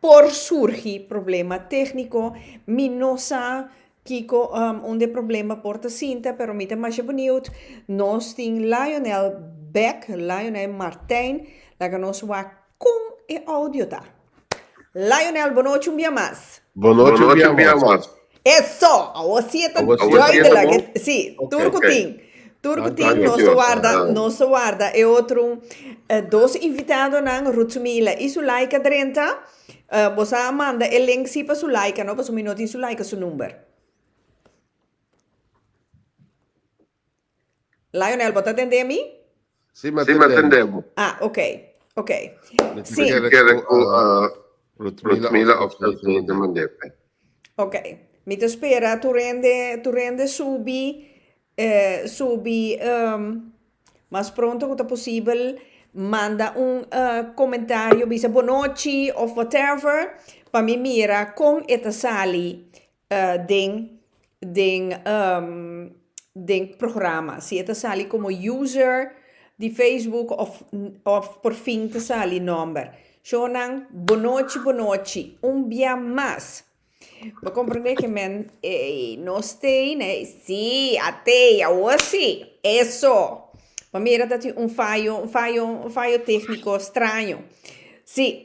Por surgi problema tékniko, mi no sa kiko unda e problema por ta sinta, pero mi ta masha beniut. Nos tin Lionel Beck, Lionel Martijn, laga nos wak kon e audio ta. Lionel, bonochi un bia mas. Bonochi un bia mas. Eso! Awor si e ta duidelijk. Si, tur ku tin. Tur ku tin nos ta warda, nos ta warda e otro dos invitadonan, Ruth Sumila i Sulaika Drenthe. Bo sa manda e link si pa Sulaika no, pasobra mi no tin Sulaika su number. Lionel, bo ta tendé mi? Sí, mi a tendé bo. Ah, ok, ok. Sí. Mi kere ku Rutmila òf Tasmeen ta mand'é p'e. Ok. Mi ta spera tur hende, tur hende subi, subi mas pronto ku ta posibel. Manda un komentario, bisa bonochi òf whatever, pa mi mira kon e ta sali. den den den programa. Si e ta sali como user di Facebook of of por fin ta sali nomber. Shownan bonochi bonochi un bia mas. Bo comprende que men ey no stay ne si a tey awor si eso pa mira ta tin un fayo un fayo un fayo tecnico straño si.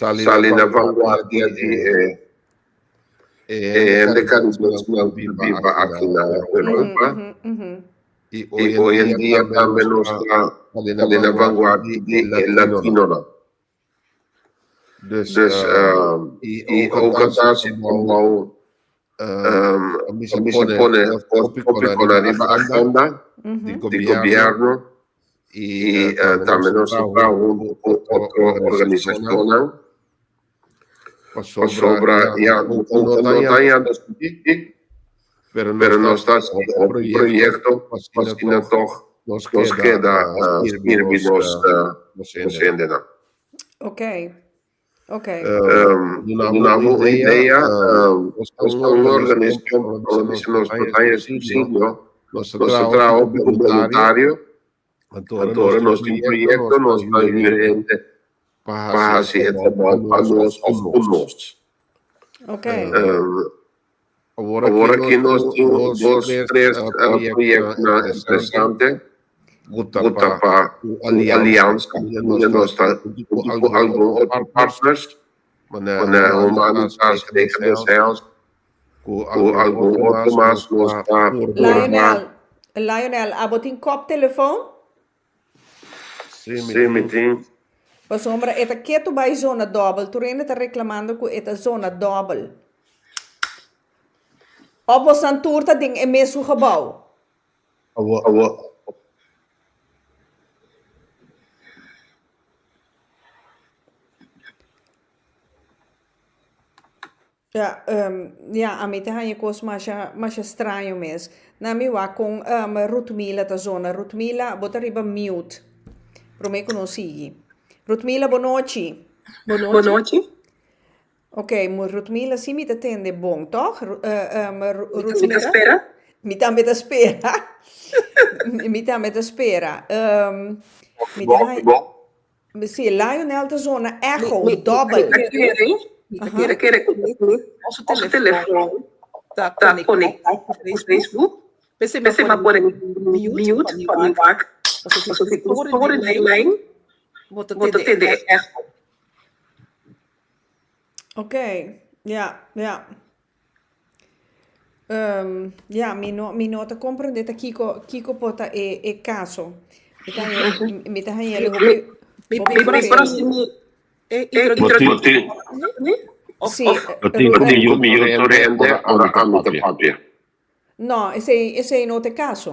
Sali na vanguardia di e hende caribes ku a biba aki na Europa. I hoy en dia tambe nos ta sali na vanguardia di e latinonan. Dus i oga ta su kombou pa mi si pone hopi kon ariba agenda di gobierno y tambe nos a trabaha hunto cu otro organizacionnan pasobra ya hunto no ta yanda subí pero nos ta haciendo un proyecto paskina toch nos keda sirbi nos hendenan. Ok. Dunabo un idea, nos ta un organisashon ku nos ta mester nos porta en susidio, nos ta traha hopi ku boluntario, anto ora nos tin proyekto nos ta yuda hende pa hasi e trabou pa nos òf ku nos. Awor aki nos tin dos, tres proyectnan interesante ku ta pa un aliansa wunde nos ta juntu ku algun otro partners, manera Humanitas, Nakedness Health ku algun otro mas nos ta forma. Lionel, Lionel, abo tin kòptelefoon? Sí, mi tin. Pasobra e ta ketu bai zona dòbel. Tur hende ta reklamando ku e ta zona dòbel. Òf bosnan tur ta den e mes ku gebou? Awor. Ya, ami ta haña kos masha, masha straño mes. Na mi wak kon Rutmila ta zona. Rutmila, bo ta riba mute. Promé ku nos sigui. Rutmila, bonochi. Bonochi. Ok, Rutmila, si mi ta tende bon, tòg? Mi ta spera. Mi tambe ta spera. Mi tambe ta spera. Mi ta haña. Mi si Lionel ta zona echo dobbel. Mi ta kere, mi ta kere kere ku nos telefòn ta konektá ku Facebook. P'esei mi a pone mi mute pa mi wak, pasobra si escucha tur e lijn bo ta tende e echo. Ok, ya, ya. Ya, mi no mi no ta komprende ta kiko kiko por ta e e kaso. Mi ta haña mi ta haña el hopi hopi feo. Martin, Sí, Martin, Ru- Martin, yo, mi yo to rende ora ami te papia. No, esei esei no ta e kaso.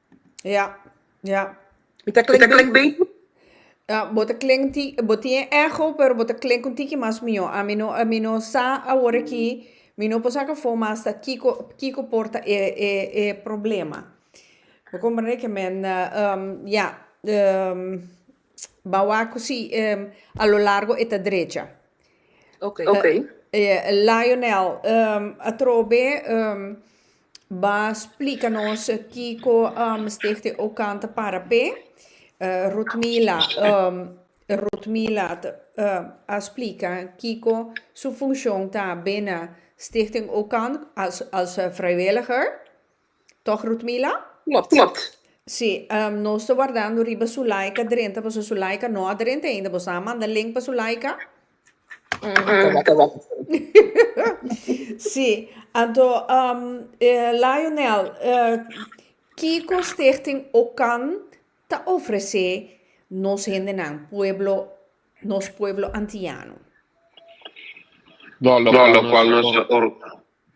Ya, ya. Mi ta klink bey. bey. Ah, bo ta klink un ti, bo tin e echo, pero bo ta klink un tiki mas mihó. A mi no, a mi no sa awor aki, mi no por sa kafó mas ta kiko, kiko por ta e, e, e problema. Bo komprende ke men ya, ba wak ku si a lo largo e ta drecha. Ok. Lionel, atrobe Ba splica nos kico um, Stichting Okan ta para pe. Uh, Ruth Mila, um, Ruth Mila ta, uh, a splica kico su funcion ta bena Stichting Okan als, als uh, vrijwilliger. Toch, Ruth Mila? Klopt. Si, um, nos ta wardando riba Sulaika drenta, paso Sulaika no a drenta ainda. Bo sa manda link pa Sulaika? Sí, anto Lionel, kiko Stichting Okan ta ofresé nos hendenan, pueblo, nos pueblo Antiano? Lo cual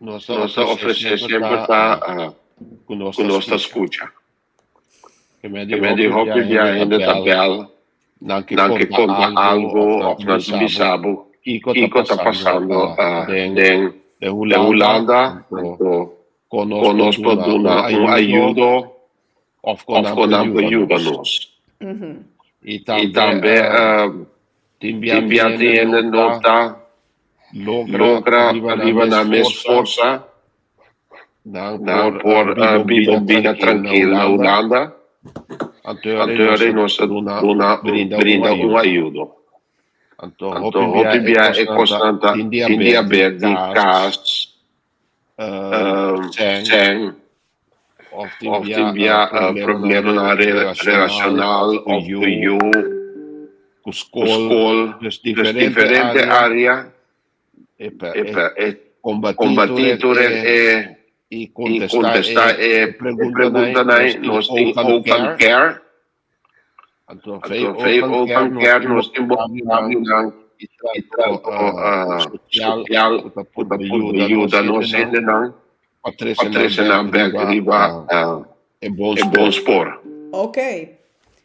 nos ta ofresé siemper ta cu nos ta scucha. Kemé di hòpi bia hende ta bèl nan ke konta algo òf nan ta bisa bo kiko ta pasando den Hulanda anto kon nos por duna un ayudo òf kon nan por yuda nos. I tambe tin biatin hende no ta logra riba nan mes forsa. Nan por biba un bida trankil na Hulanda, anto nos ta duna brinda un ayudo. Anto hopi bia e kosnan ta tin dia bèrdì, kas, sèn, òf tin bia problemnan relashonal òf ku yu, ku skol. Diferente área Konbatí tur e i kontestá e preguntanai. Nos tin Open Care. Anto vei Open Care nos tin bon pabinan i trato sosial ku ta por yuda nos hendenan pa trese nan bèk riba e bon spor. Oke.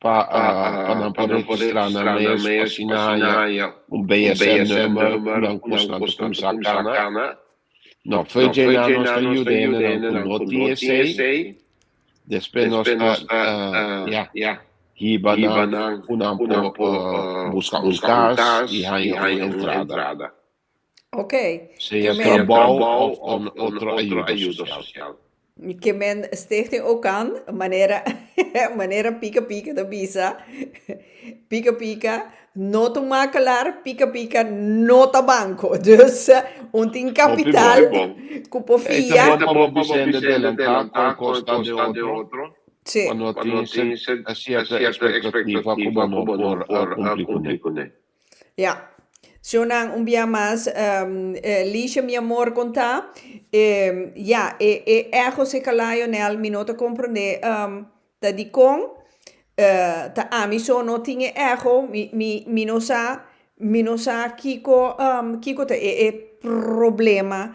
pa nan por registrá nan mes, asina haña un BSN number ku nan konsnante kumsa kana. No, Feuille Dna nos ta yuda hende nan ku no tin esei, despues nos ta ya hiba nan ku nan por buska un kas i haña un entrada. Ok. Sea e trabao of otro ayuda social. Mi ke men Stichting Okan manera manera pika pika ta bisa pika pika no ta makelar pika pika no ta banco dus un tin capital cu por fia. Ey ta bon pa bo Vicente delanta con costa de otro si cuando tin cierta expectativa cu bo no por cumpli cune. Ya. Shownan, un bia mas, Liesje mi amor con ta, ya, e e egos, e kalayo nel mi no ta komprendé ta dikon ta ami so no tin e ego, mi mi mi no sa mi no sa kiko kiko ta e e problema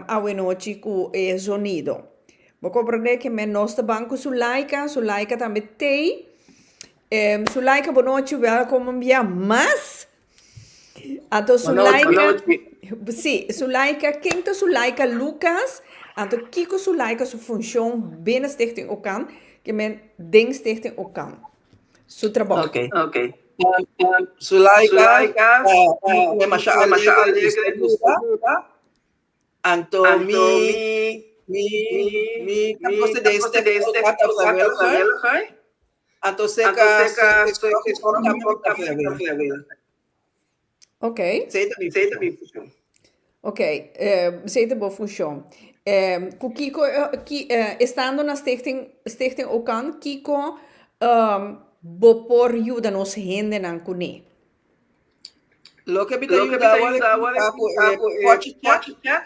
awenochi ku e zonido. Bo komprendé ke men nos ta ban ku Zulaika, Zulaika tambe tei Em su laika bonochi wel como mbia mas anto su laika si su laika ken ta su laika Lucas anto kiko su laika su funcion binnen stichting okan ke men den stichting okan su trabou okay okay su laika ta masha alegre y sta gusta anto mi mi mi ta gosa den stichting okan ta vrijwilliger Anto seka Ok. Seta mi funshon. Ok, seta bo funshon. Ku kiko estando na Stichting Stichting Okan kiko bo por yuda nos hendenan kuné? Loke mi ta yuda awan e kuminsa ku e pochi chèk.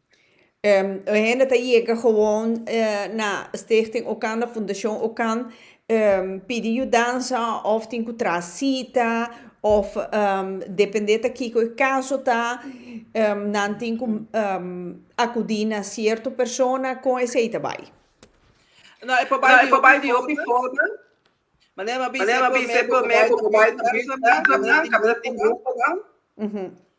E hende ta yega gewoon na Stichting Okan, na Fundashon Okan, pidi yudansa òf tin ku traha sita, òf dependé ta kiko e kaso ta, nan tin ku akudí na sierto persona. Kon esei ta bai? E por bai di hopi forma. Manera mi a bisa e primer, ku por bai di gruponan, kaminda tin gruponan.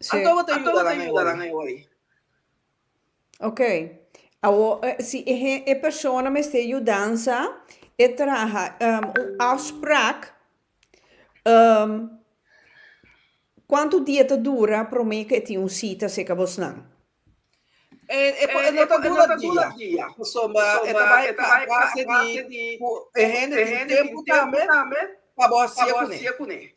Sí. Anto bo ta yuda nan awor? Ok. Si e persona mester yudansa, e traha un afsprak. Kuantu dia ta dura promé ku e tin un sita serka bosnan? E no ta dura dia. Pasobra e ta bai base di ku e hende tin tempu tambe pa bo hasia kuné.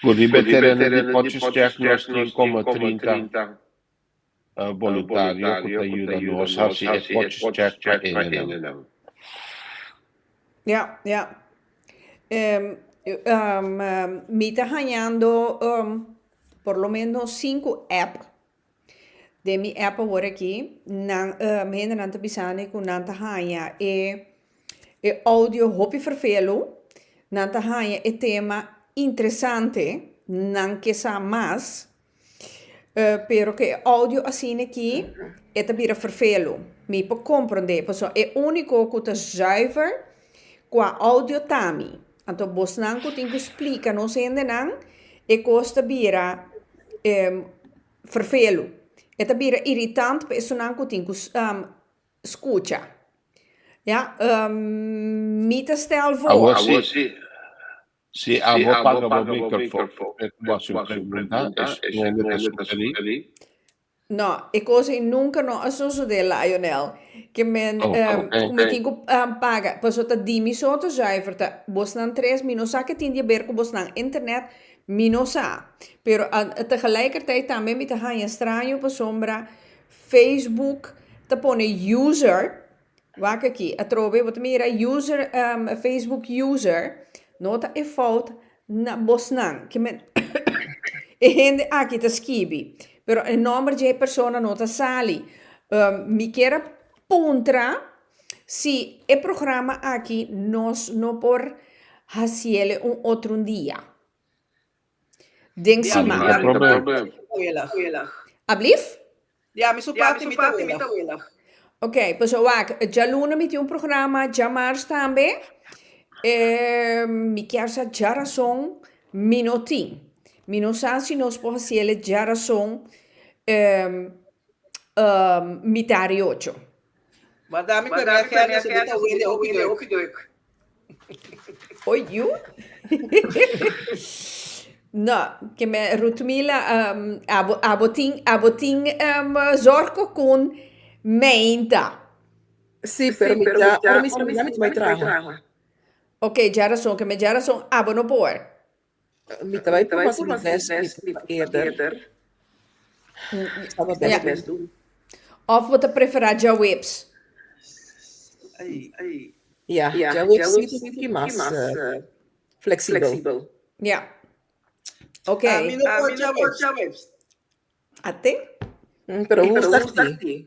Cu di be tereno di Potchefstroom nos tin como trinta boluntario cu ta yuda nos haci e Potchefstroom pa hendenan. Mi ta hañando por lo menos cinco app. Den mi app awor aki nan mi hendenan ta bisani cu nan ta haya e e audio hopi vervelu nan ta haya e tema interesante nan ke sa mas pero ke audio asina aki e ta bira vervelu mi por comprende pasobra e unico cu ta zuiver cua audio ta mi. Anto bosnan ku tin ku splika nos hendenan e kos ta bira ferfelu. E ta bira iritant pa esunnan ku tin ku skucha. Ya, mi ta stèl vos. Si abo paga bo mikrofon, e ku bo hasi un pregunta, e su nomber ta sugerí. No, e cos ei nunca no a sosode, Lionel. Ke men cu mi tin cu paga paso ta di mi so ta zuiver ta bosnan tres. Mi no sa ke tin di haber cu bosnan internet, mi no sa. Pero tegelijkertijd tambe mi ta hanja straño pasobra Facebook ta pone user. Wak aki, atrobe bo ta mira user facebook user no ta e fout na bosnan ki men e hende aki ta skibi pero e nomber dje e persona no ta sali mi kier a puntra si e programa aki nos no por hasiele un otro dia. Den su ma. Diami su parti mi ta weleg. Ablif? Diami su parti mi ta weleg. Ok, pues a wak. Djaluna mi tin un programa, djamars tambe. E mi kier sa djarason mi no tin. Mi no sa si nos por hasi el e djarason mitad di ocho. Manda mi ku e mea kèn, si bo ta wende okidoek. Oy yu? No, ke me Rutmila, um, abo, abo tin, abo tin um, zorko kun meinta. Si, pero mi ja, ora mi sali, mi bai traha. Ok, dja rason, ke me dja rason abo no por. Mi ta bai purba si mi best mi ta purba eerder. Sa bo best mi do. Of bo ta prefera djaweps? Ya, djaweps si ta tin mas fleksibel. Ya. Ok. Mi no por djaweps. A te? Pero hu start tin?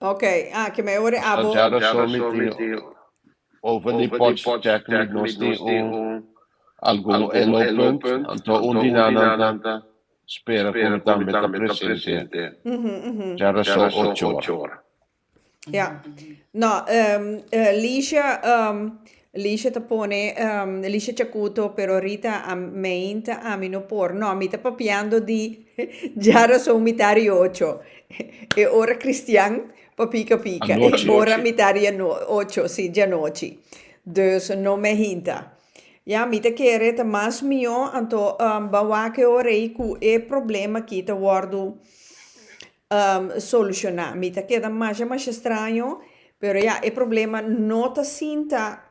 Ok, ah, ke me ore abo. Dja razón mi tin over di potch check mi nos tin un algun elo punt anto un di nan nan ta spera ku mi tambe ta presente dja razón ocho ora. Ja, no, Ligia, Lisha ta pone, Lisha Chacuto, pero Rita a meinta ami no por. No, mi ta papiando di dja rason mi ta ri ocho. E ora Christian pa pica pica. Anochi. E ora mi ta ri ano, ocho, si, djanochi. Dus no me hinta. Ya, mi ta kere ta mas mihó anto ban wak e ora ei cu e problema aki ta wordu solucioná. Mi ta keda masha masha straño, pero ya e problema no ta sinta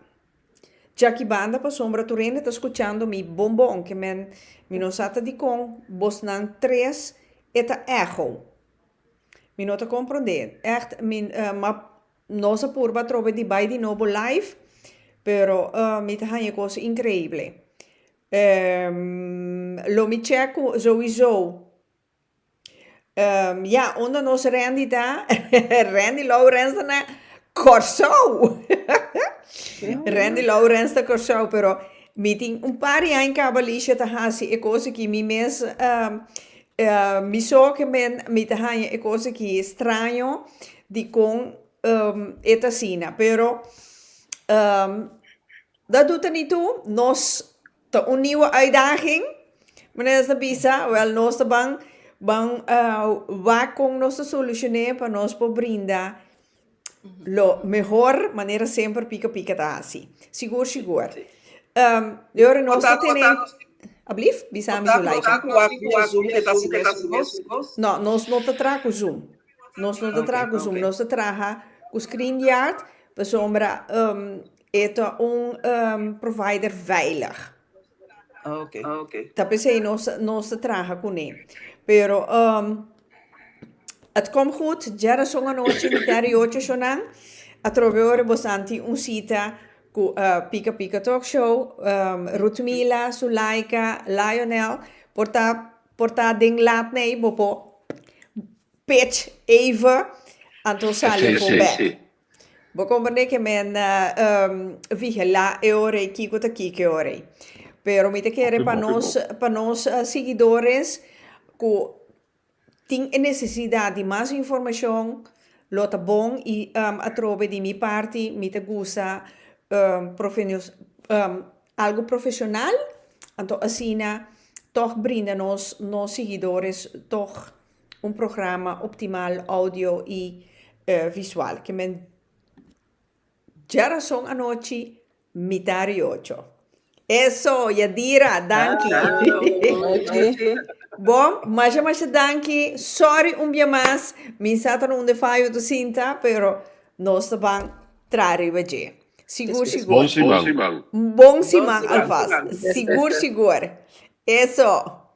djaki banda pasobra tur hende ta scuchando mi bon bon, ke men mi no sa ta dikon bosnan tres e ta echo. Mi no ta comprende, echt mi ma nos a purba atrobe di bai di nobo live, pero mi ta haña e cosa increible. Lo mi check cu souiso. Ya unda nos rendi ta rendi lourens na corsou rendi lourens na corsou pero mi tin un par di aña caba Licia ta hasi e cosa ki mi mes mi zorgemen mi ta haña e cosa ki straño dicon e ta asina pero dat doe ta ni tu nos Ta un niu uitdaging, manera ta bisa, wèl nos ta ban ban wak kon nos ta solushon'é pa nos por brinda lo mehor manera semper pika pika ta hasi. Sigur sigur. E ora nos ta tene, ablift? Bisami Zulaika. Ku wak di e zoom e ta hasi mes ku nos? No, nos no ta traha ku zoom. Nos no ta traha ku zoom. Nos ta traha ku screen yard, pasobra E ta un provider veilig. Ta p'esei nos ta traha kuné. Pero et kom gud, djerason anochi mi tera i ocho shonan, atrobe ora bosan tin un sita ku Pika Pika Talk Show, Ruth Mila, Sulaika, Lionel, por ta por ta den lat nei bo por pech eve anto sali apo bek. Bo comprendé que me na uh, vigilá e ora y kiko ta kiko e ora. Pero mi te kere pa nos, pa nos uh, seguidores cu tin e necesidad di mas informacion, lo ta bon y um, atrobe di mi parti mi ta gusta um, profenios, um, algo profesional, anto asina toch brinda nos, nos seguidores toch. un programa optimal audio y visual ke men djarason anochi mitá ri ocho. Eso, Yadira, danki. Bon, masha masha danki, sorry un bia mas, mi sa ta na un defayo tu sinta, pero nos ta ban traha riba dje. Sigur sigur. Bon siman. Bon siman alvast. Sigur sigur. Eso.